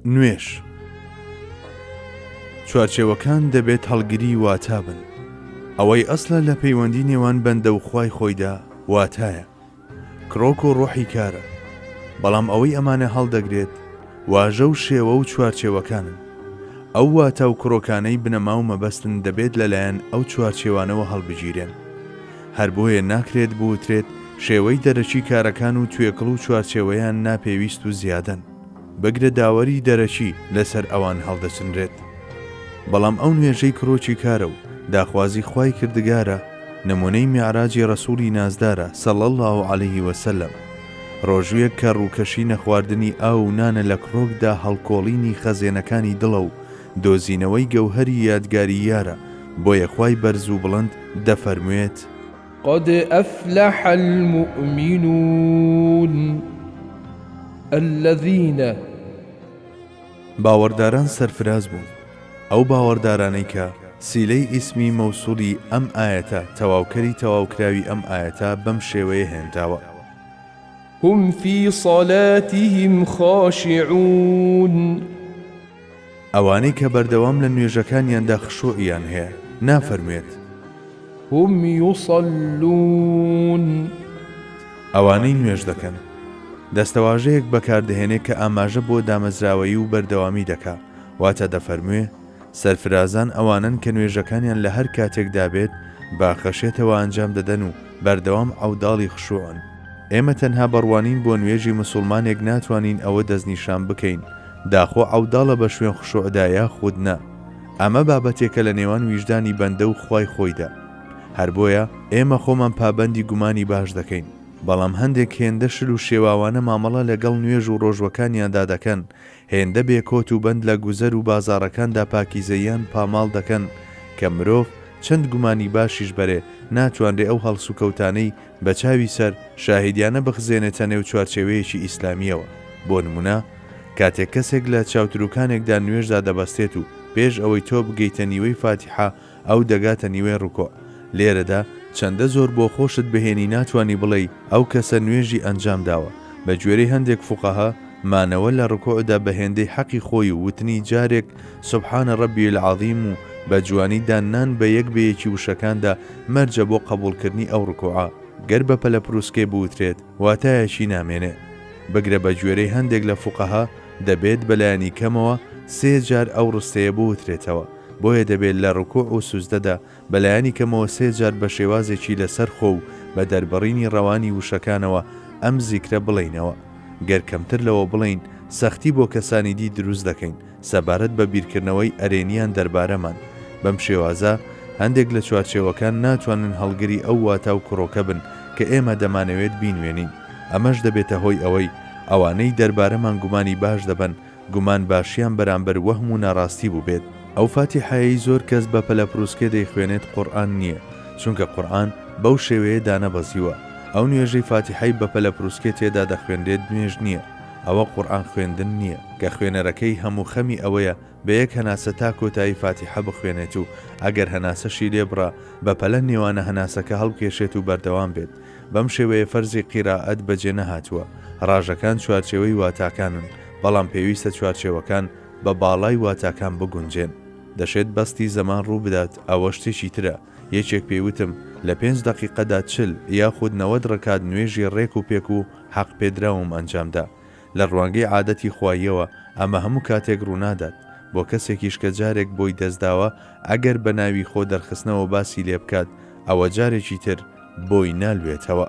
نوێژ چوارچێوەکان دەبێت هەڵگری واتا بن ئەوەی ئەسلە لە پەیوەندی نێوان بەندە و خی خۆیدا واتایە کرۆک و ڕۆحی کارە بەڵام ئەوەی ئەمانە هەڵدەگرێت واژە و شێوە و چوارچێوەکانن ئەو واتە و کرۆکانەی بنەما و مەبەستن دەبێت لەلایەن ئەو چوارچێوانەوە هەڵبگیرێن هەر بۆیە ناکرێت بوترێت شێوەی دەرەکی کارەکان و توێکڵ و چوارچێوەیان ناپێویست و زیادەن، بگرە داوەری دەرەکی لەسەر ئەوان هەڵدەچنرێت. بەڵام ئەو نوێژەی کرۆکی کارە و داخوازی خوای کردگارە، نمونەی میعراجی رەسوڵی نازدارە صلی اللە علیە وسلم، رۆژووێک کە رووکەشی نەخواردنی ئاو و نانە لەکڕۆکدا هەڵکۆڵینی خەزێنەکانی دڵە و دۆزینەوەی گەوهەری یادگاری یارە، بۆیە خوای بەرز و بڵند دەفەرموێت. قد افلح المومنون الذین. باوەڕداران سەرفراز بوون. ئەو باوەڕدارانەی کە، سیلەی ئیسمی مەوسولی ئەم ئایەتە تەواوکەری تەواوکراوی ئەم ئایەتە بەم شێوەیە هێنراوە. هم فی صلاتهم خاشعون. ئەوانەی کە بەردەوام لە نوێژەکانیاندا خشوعیان هەیە، نافەرموێت. هم یصلون. ئەوانەی نوێژ دەکەن. دەستەواژەیەک بەکاردەهێنێ کە ئاماژە بۆ دامەزراوەیی و بەردەوامی دەکا، واتە دەفەرموێ، سەرفرازان ئەوانەن کە نوێژەکانیان لە هەر کاتێکدا بێت بە خەشیەتەوە ئەنجام دەدەن و بەردەوام عەوداڵی خشوعن. ئێمە تەنها بە ڕوانین بۆ نوێژی مسوڵمانێک ناتوانین ئەوە دەستنیشان بکەین داخۆ عەوداڵە بە شوێن خشوعدا یاخود نا، ئەمە بابەتێکە لە نێوان ویژدانی بەندە و خوای خۆیدا. هەر بۆیە ئێمە خۆمان پابەندی گومانی باش دەکەین، بەڵام هەندێک هێندە شل و شێواوانە مامەڵە لەگەڵ نوێژ و ڕۆژوەکانیاندا دەکەن هێندە بێ کۆت و بەند لە گوزەر و بازاڕەکاندا پاکیزەییان پاماڵ دەکەن کە مرۆڤ چەند گومانی باشیش بەرێ ناتوانرێ ئەو هەڵسوکەوتانەی بە چاوی سەر شاهیدیانە بخزێنێتە نێو چوارچێوەیەکی ئیسلامییەوە بۆ نموونە کاتێک کەسێک لە چاوتروکانێکدا نوێژدا دەبەستێت و پێش ئەوەی تۆ بگەیتە نیوەی فاتیحە ئەو دەگاتە نیوەی ڕوکوع لێرەدا چەندە زۆر بۆ خۆشت بهێنی ناتوانی بڵێی ئەو کەسە نوێژی ئەنجام داوە، بە گوێرەی هەندێک فوقەها مانەوە لە ڕکوعدا بە هێندەی حەقی خۆی و وتنی جارێک سبحان ربی العظیم و بە جوانی داننان بە یەک بەیەکی وشەکاندا مەرجە بۆ قەبوڵکردنی ئەو ڕکوعە گەر بە پەلەپروسکەی بوترێت واتایەکی نامێنێ بگرە بە گوێرەی هەندێک لە فوقەها دەبێت بە لایەنی کەمەوە سێ جار ئەو ڕستەیە بوترێتەوە. بۆیە دەبێت لە ڕکوع و سوجدەدا بە لایەنی کەمەوە سێ جار بە شێوازێکی لەسەر خۆ و بە دەربڕینی ڕەوانی وشەکانەوە ئەم زیکرە بڵێینەوە. گەر کەمتر لەوە بڵێین، سەختی بۆ کەسانی دی دروست دەکەین سەبارەت بە بیرکردنەوەی ئەرێنییان دەربارەمان. بەم شێوازە هەندێک لە چوارچێوەکان ناتوانن هەڵگری ئەو واتا و کڕۆکە بن کە ئێمە دەمانەوێت بینوێنین، ئەمەش دەبێتە هۆی ئەوەی ئەوانەی دەربارەمان گومانی باش دەبەن، گومان باشیان بەرامبەر وەهم و ناڕاستی بووبێت. ئەو فاتیحەیەی زۆر کەس بە پەلەپروسکێ دەیخوێنێت قورئان نییە، چونکە قورئان بەو شێوەیە دانەبەزیوە، ئەو نوێژەی فاتیحەی بە پەلەپروسکێ تێدا دەخوێنرێت نوێژ نییە، ئەوە قورئان خوێندن نییە، کە خوێنەرەکەی هەم و خەمی ئەوەیە بە یەک هەناسە تا کۆتایی فاتیحە بخوێنێت و ئەگەر هەناسەشی لێبڕا بەپەلە نێوانە هەناسەکە هەڵبکێشێت و بەردەوام بێت. بەم شێوەیە فەرزی قیرائەت بەجێ نەهاتووە. ڕاژەکان چوارچێوەی واتاکانن، بەڵام پێویستە چوارچێوەکان بە باڵای واتاکان بگونجێن. دەشێت بەستی زەمان ڕوو بدات، ئەوە شتێکی ترە. یەکێک پێی وتم، لە پێنج دەقیقەدا چل یاخود نەوەد ڕکات نوێژی ڕێک و پێک و حەقپێدراوم ئەنجام دا. لە ڕوانگەی عادەتی خواییەوە ئەمە هەموو کاتێک ڕوونادات، بۆ کەسێکیش کە جارێک بۆی دەستداوە ئەگەر بە ناوی خۆ دەرخستنەوە باسی لێ بکات ئەوە جارێکی تر بۆی نالوێتەوە.